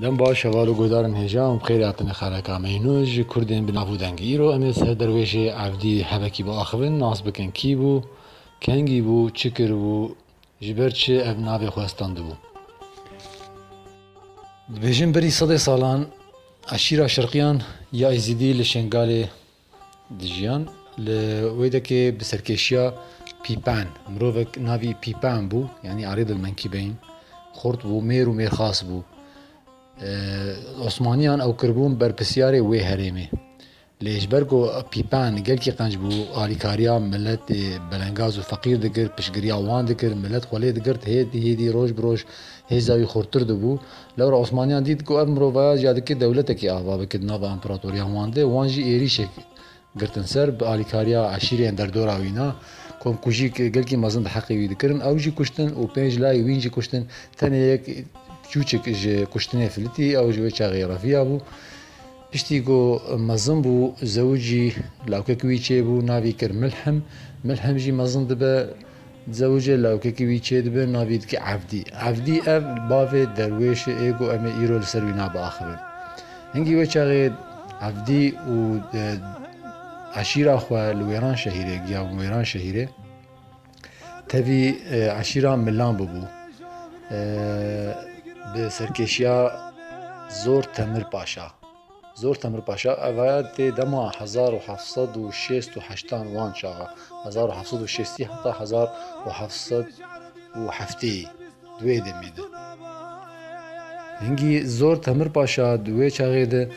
Dem baş heval û guhdarên hêja û bi xêrê hatine xereka me. Înos ji kurdên bi nav û deng. Îro em ê ser derwêjê evdî hebekî biaxivin, nas bikin kî bû, kengî bû, çi kiribû, ji ber çi ev navê xwe standibû. Dibêjin berî sedê salan eşîra Şirqiyan ya Êzîdî li Şengalê Dijiyan li wê dekê bi serkêşiya Pîpen, mirovek navî Pîpen bû yanî Arable Monkey Bane, xurt bû, mêr û mêrxas bû. Osmaniyan ew kiribûn berpirsiyarê wê herêmê. Lê ji ber ku Pîpen gelkî qenc bû, alîkariya miletê belengaz û feqîr dikir, piştgiriya wan dikir, milet xwe lê digirt, hêdî hêdî, roj bi roj Hêza wî xurtir dibû. Lewra Osmaniyan dît ku ev mirovaya ji ya dike dewletekî ava bike di nava împeratoriyan wan de. Wan jî êrîşek girtin ser bi alîkariya eşîreyên derdora wî na. Komkujî gelkî mezin di heqê wî dikirin ew jî kuştin û pênc layê wîn jî kuştin. Tenê yek çûçik ji kuştinê filitî ew ji wê çaxê reviya bû. Piştî ku mezin bû zewicî lawkek wî çêbû navî kir Milhim. Milhim jî mezin dibe zewicê lawkekî wî çêdibe navî dike Evdî. Evdî ev bavê derwêşê ê ku em ê îro li ser wî nav biaxivin. Hingî wê çaxê Evdî û eşîra xwe li Wêranşehîrê giya bûn Wêranşehîrê. Tevî eşîra Milan bûbû. Bi serkêşiya Zor Temir Paşa. Zor Temir Paşa evaya tê dema hezar û heft sed û şêst û heştan wan çaxa. Hezar û heft sed û şêstî heta hezar û heft sed û hefteyî. di wê demê de. Hingî zor Temir Paşa di wê çaxê de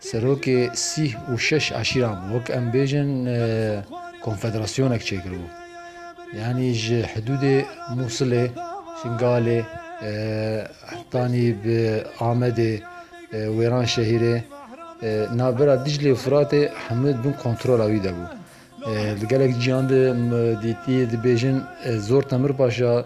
serokê sîh û şeş eşîran bû, wek em bêjin konfederasyonek çêkiribû. Yanî ji hidûdê Mûsilê, Şingalê hetanî bi Amedê, Wêranşehîrê, navbera Diclê û Firatê hemû di bin kontrola wî de bû. Li gelek cîhan de dîtî dibêjin zor Temir Paşa,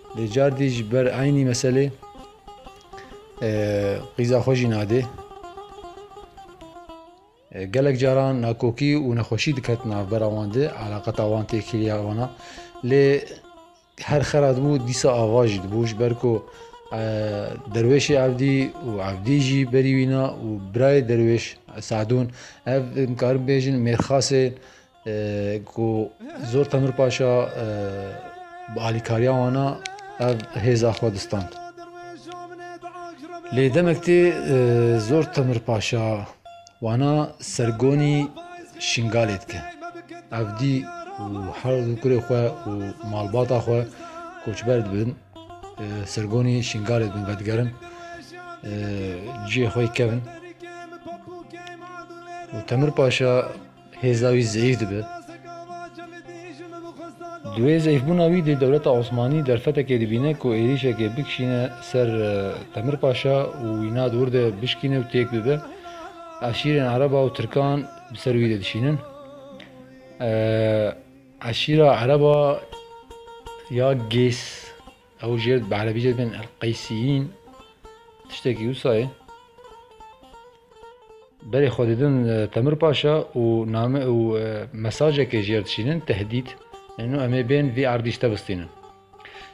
Lê cardî ji ber eynî meselê qîza xwe jî nadê. Gelek caran nakokî û nexweşî diket navbera wan de, eleqeta wan tê kiliya wan a. Lê her xera dibû dîsa ava jî dibû ji ber ku derwêşê evdî û evdî jî berî wî na û birayê derwêş Sadûn ev dikarin bêjin mêrxasê Ku zor Temir Paşa bi alîkariya wan a ev hêza xwe distand. Lê demek tê zor Temir Paşa wana sergonî Şingalê dike. Ev dî û her du kurê xwe û malbata xwe koçber dibin, sergonî Şingalê dibin vedigerin, cihê xwe yê kevin. Û Temir Paşa Hêza wî zeyîf dibe. Di wê zeyîfbûna wî dê dewleta Osmanî derfetekê dibîne ku êrîşekê bikişîne ser Temirpaşa û wî nat wir de bişkîne û têk bibe. Eşîrên Ereba û Tirkan bi ser wî de dişînin. Eşîra Ereba ya Gês. Ew jê bi erebî jê dibin El-Qeysîyîn tiştekî wisa ye. Berê xwe didin Temir Paşa û name û mesajekê jê re dişînin tehdît, nano em ê bên vî erdî ji te bistînin.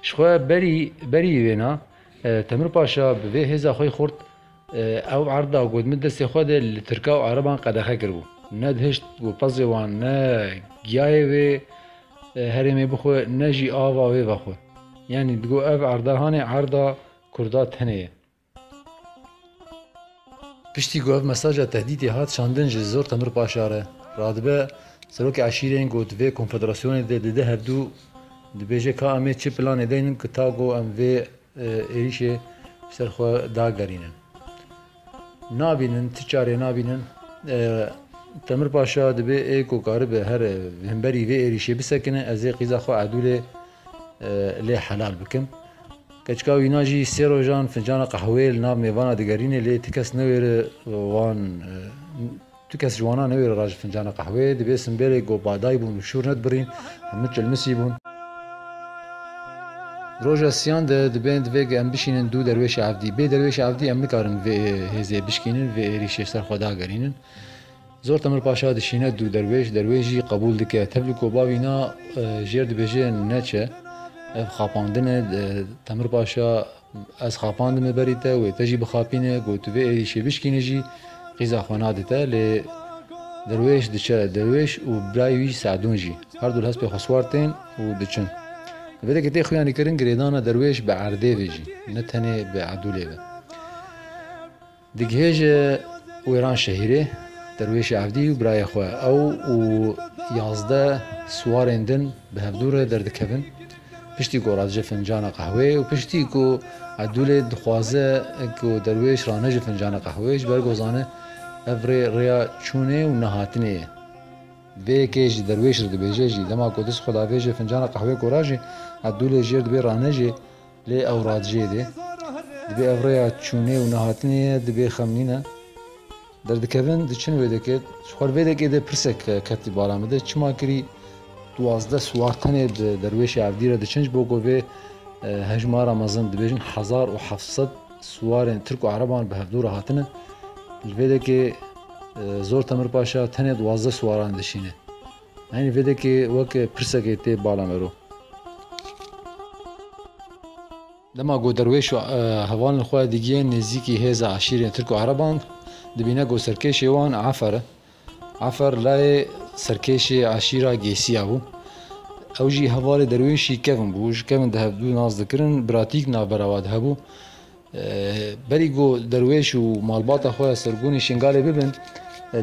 Ji xwe berî berî wêna Temir Paşa bi vê hêza xwe yê xurt, Ew erd da got, Min destê xwe de li Tirka û Ereban qedexe kiribû. Ne dihişt ku pezê wan ne giyayê wê herêmê bixwe ne jî ava wê vexwe. Yanî digo ev erdehanê erda Kurda tenê ye. Piştî ku ev mesaja tehdîtê hat şandin ji Zor Temir Paşa re radibe, Serokê Eşîrên got, Vê konfederasyonê de dide hevdû dibêje ka em ê çi planê deynin ku tago em vê Êrîşê ser xwe dagerînin. Nabînin, ti çarê nabînin? Temir Paşa dibê ê ku karibe here himberî vê êrîşê bisekine, ez ê qîza xwe Edûlê lê helal bikim. Keçika wîna jî sê rojan fincana qehweyê li nav mêvana digerîne lê ti kes newêre wan Tu kes ji wana newêre ra ji fincana qehweyê di vê simbêlê ku ba day bûn û şûr ne dibirîn, hemû çilmisî bûn. Roja siyan de dibên divê ku em bişînin du derwêşa evdî. Bê derwêşa evdî em nikarin vê hêzê bişkînin, vê êrîşê ser xwe dagerînin. Zor Temir Paşa dişîne du derwêş, derwêş jî qebûl dike. Tevlî ku ba vîna jêr dibêje neçe, ev xapandin e. Temir Paşa. Ez xapandime berî te wê te jî bixapîne ku tu vê êrîşê bişkînî jî qîza xwe nade te lê Derwêş diçe. Derwêş û birayê wî Seedûn jî her du li hespê xwe siwar tên û diçin. Li vê de ke tê xuyanîkirin girêdana Derwêş bi erdê ve jî ne tenê bi edûlê ve. Digihêje Wêran şehîrê derwêşê Evdî û birayê xwe. Ew û yazdeh siwarên din bi hevdû re derdikevin. Piştî ku radice fincana qehwê û piştî ku Edûlê dixwaze ku derwêş raneje fincana qehwê ji ber ku zane ev rê rêya çûnê û nehatinê ye. Vê yekê ji derwêş re dibêje jî dema ku dist xwe davêje fincana qehwê ku rajê, Edûlê jêr dibê raneje. Lê ew radijê dê. Dibê ev rêya çûnê û nehatinê ye, dibê xemnîn e. Derdikevin diçin wêdekê. Ji xwe li vêdekê de pirsek ketî bala min de, çima kirî duwazdeh siwar tenê bi derwêşê Evdî re diçin ji bo ku vê hejmara mezin dibêjin hezar û heft sed siwarên tirk û ereban bi hevdû re hatine. Li vêdekê Zor Temirpaşa tenê duwazdeh siwaran dişîne. Heynî vêdekê wek pirsekê tê bala mero. Dema ku derwêş û hevalên xwe digihên nêzîkî hêza eşîrên tirk û ereban, dibîne ku serkêşê wan Efer e. Efer layê serkêşê eşîra Gêsiya bû. Ew jî hevalê derwêşî kevn bû. Ji kevn di hev du nas dikirin, biratîk navbera wan de hebû. Berî ku derwêş û malbata xwe Sirgûnê Şingalê bibin,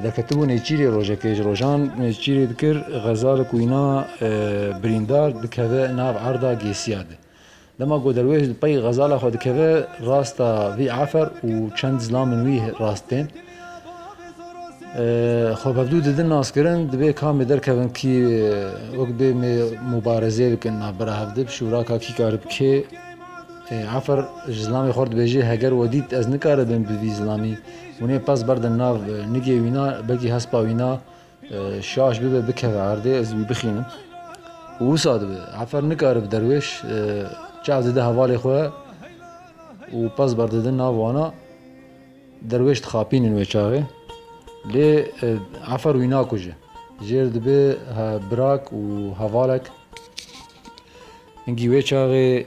diketibû nêçîrê rojek ê. Ji rojan nêçîrê dikir xeza li ku îna birîndar dikeve nav erda Gêsiya de. Dema ku derwêş li pey xezala xwe dikeve rasta vî afer û çend zilamên wî rast tên. Xwe bevdû didin naskirin dibê kamê derkevin kî wek bê mê mûbarezê bikin navbera hev dib şûraka kî karib kê. Cafer ji zilamê xwe re dibêje, Heger we dît ez nikaribim bi vî zilamî winê pez berdim nav nigê wî na, belkî hespa wî na şaş bibe bikeve erdê ez wî bixînim û wisa dibe. Cafer nikare bi derwêş çav dide hevalê xwe û pez berdidin nav wana. Derwêş dixapînin wê çavê lê Cafer wî nakuje. Jêr dibe birak û hevalek. Hingî wê çaxê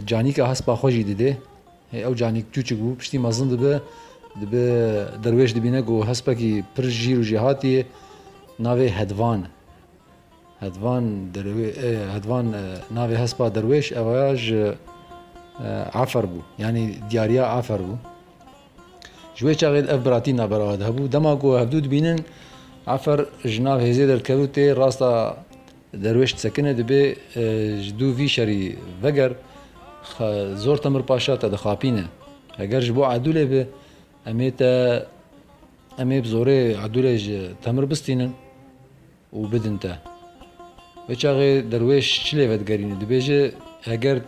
canîka hespa xwe jî didê. Hê ew canîk çûçik bû, piştî mezin dibe, dibe derwêş dibîne ku hespekî pir jîr û jêhatî ye, navê Hedvan e. Hedvan derwê Hedvan navê hespa derwêş ew ya ji Efer bû, yanî diyariya Efer bû. Ji wê çaxê ev biratî naberava de hebû. Dema ku hevdû dibînin Efer ji nav hêzê derdikevû tê rasta Derwêş disekine dibê ji dû vî şerî veger zor Temir Paşa te dixapîne. Heger ji bo Edûlê be em ê te em ê bi zorê Edûlê ji Temir bistînin û bidin te. Wê çaxê derwêş çi lê vedigerîne dibêje heger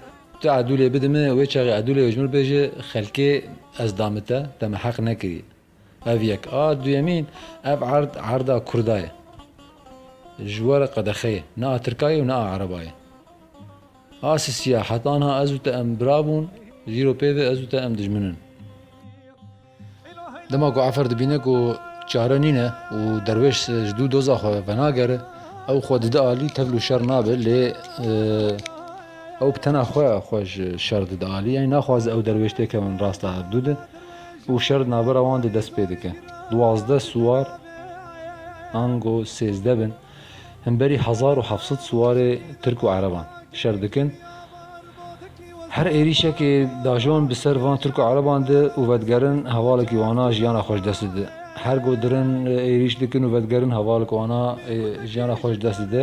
tu Edûlê bidime wê çaxê Edûlê ji min bêje xelkê ez dame te, te min heq nekiriye. Ev yek a. Duyemîn, ev erd erda kurda ye. Ji we re qedexe ye. Ne a tirka ye û ne a ereba ye. A sisiya heta niha ez û te em bira bûn, ji îro pêve ez û te em dijmin in. Dema ku efer dibîne ku çare nîne û derwêş ji dû doza xwe venagere, ew xwe dide alî, tevl û şer nabe lê ew bi tena xwe xwe ji şer dide alî. Yanî naxwaze ew derwêş têkevin rasta hevdû de. û şer di navbera wan de dest pê dike. Duwazdeh siwar ango sêzdeh bin himberî hezar û heft sed siwarê tirk û ereban şer dikin. Her êrîşekê dajon bi ser van tirk û ereban de û vedigerin hevalekî wana jiyana xwe ji dest dide. Her go dirin êrîş dikin û vedigerin hevalek wana jiyana xwe ji dest dide.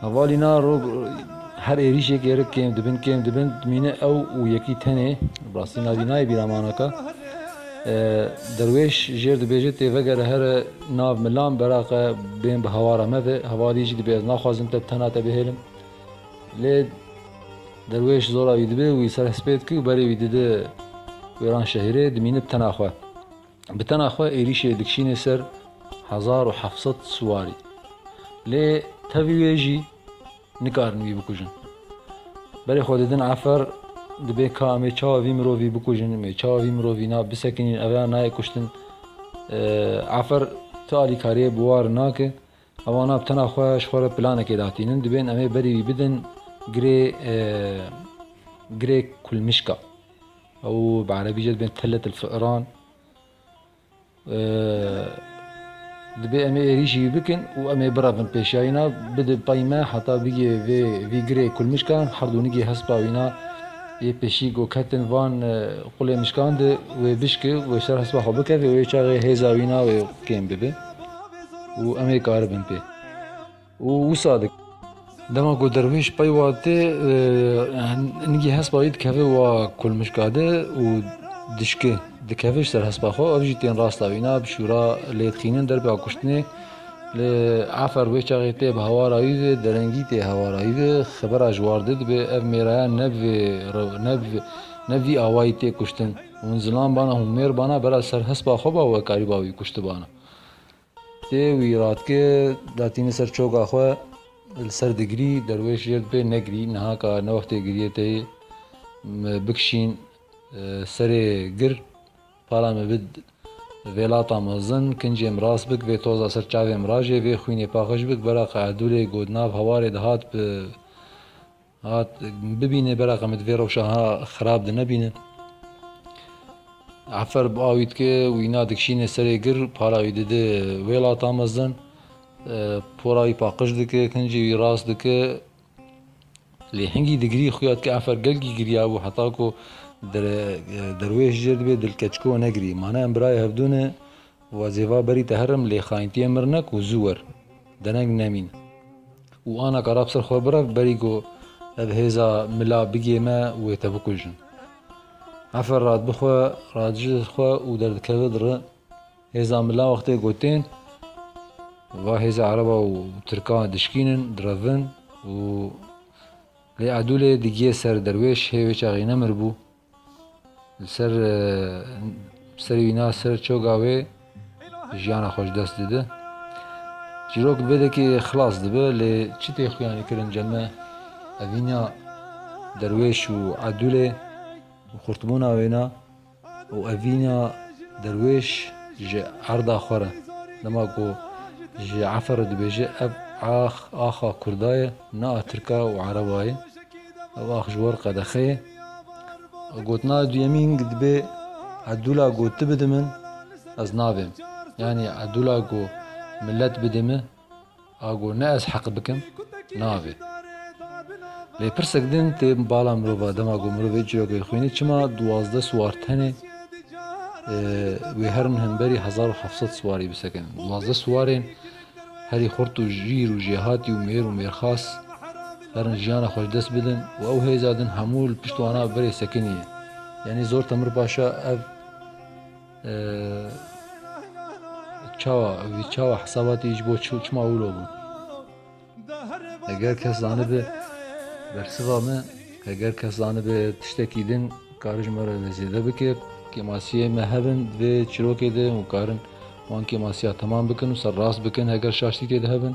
Hevalî na rog her êrîşek êrik kêm dibin kêm dibin mîne ew û yekî tenê bi rastî navî nayê bîra manaka derwêş jêr dibêje tê vegere here nav milan beraqe bên bi hewara me ve hevalî jî dibê ez naxwazim te bi tena te bihêlim lê derwêş zora wî dibê wî ser hespê dikê û berê wî dide wêran şehîrê dimîne bi tena xwe. Bi tena xwe êrîşê dikişînê ser hezar û heft sed siwarî. Lê tevî wê jî nikarin wî bikujin. Berê xwe didin efer, dibê ka em ê çawa vî mirovî bikujin, em ê çawa vî mirovî na bisekinîn, ev ya nayê kuştin. Efer tu alîkariyê bi war nake. Ewa nav tena xwe ji xwe re planekê datînin, dibên em ê berî wî bidin girê girê kulmişka. Ew bi erebî jê dibên tellet il fi'ran. Dibê em ê êrîşî wî bikin û em ê birevin pêşiya wî na bidin pey me heta bigê vê vî girê kulmişka her du nigê hespa wî na yê pêşî ku ketin van qulê mişkan de wê bişki wê ser hespa xwe bikeve wê çaxê hêza wî na wê kêm bibe. û em ê karibin pê û wisa dikin. Dema ku derwêş pey wa tê nigî hespa wî dikeve wa kulmişka de û dişke dikeve ji ser hespa xwe ev jî tên rasta wî na bişûra lê dixînin derpêya kuştinê lê efer wê çaxê tê bi hewara wî ve derengî tê hewara wî ve xebera ji war de dibe ev mêraya ne bi vê ne bi vê ne bi vî awayî tê kuştin hûn zilam bana hûn mêr bana bera ser hespa xwe ba wekarî ba wî kuştibana. Tê wî ratkê da tînî ser çoka xwe li ser digirî derwêş jêr dibê negirî niha ka ne wextê giriyê tê yê me bikişîn serê gir pala me bid vê lata mezin kincê min rast bik vê toza ser çavê min rajê vê xwînê paxij bik bera qe Erdûlê got nav hewarê dihat bi Hat bibîne bereqa min divê rewşa ha xirab de nebîne. Efer bi awî dike û îna dikişîne serê gir, para wî dide wêlata mezin. Pora wî paqij dike, kincê wî rast dike. Lê hingî digirî xuya dike efer gelkî giriya bû heta ku derwêş jêr dibe dilkeçiko negirî. Mane em birayê hevdû ne Wazêva berî te herim lê xayintiyê mir ne ku zû wer. Dereng nemîn. Û ana ka rabsir xwe birev berî ku ev hêza mila bigê me wê te bikujin. Efe rad bixwe, rad ji xwe û derdikeve diri. Hêza mila wextê ku tên va hêza ereba û tirka dişkînin, direvin û lê edûlê digiyê ser derwêş hê wê çaxî nemir bû. Li ser serê wî na ser çoga wê jiyana xwe ji dest dide. Çîrok bi vê dekê xilas dibe lê çi tê xuyanê kirin ceme evîna derwêş û edûlê û xurtbûna wê na û evîna derwêş ji erda xwe re. Dema ku ji efe re dibêje ev ax axa kurda ye ne a tirka û ereba ye. Ev ax ji wir qedexeyê. Gotina duyemîn dibê Edûla ku tu bidî min, ez nabêm. Yanî Edûla ku milet bidî min, a ku ne ez heq bikim, nabê. Lê pirsek din tê bala mirova, dema ku mirovê çîrokê xwînî çima duwazdeh siwar tenê wê herin hemberî hezar û heft sed siwarî bisekinîn? Duwazdeh siwarên Herî xurt û jîr û jêhatî û mêr û mêrxas herin jiyana xwe ji dest bidin û ew hêza din hemû li pişt wana berê sekinî ye. Yanî Zor Temir Paşa ev çawa vî çawa hesabatî ji bo çima wilo bû? Heger kes zanibe bersiva me, heger kes zanibe tiştekî din kari ji me re zêde bike, kêmasiyê me hebin di vê çîrokê de hûn karin Wan kêmasiya temam bikin û ser rast bikin heger şaştî tê de hebin.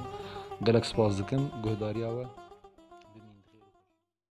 Gelek spas dikim guhdarîya we.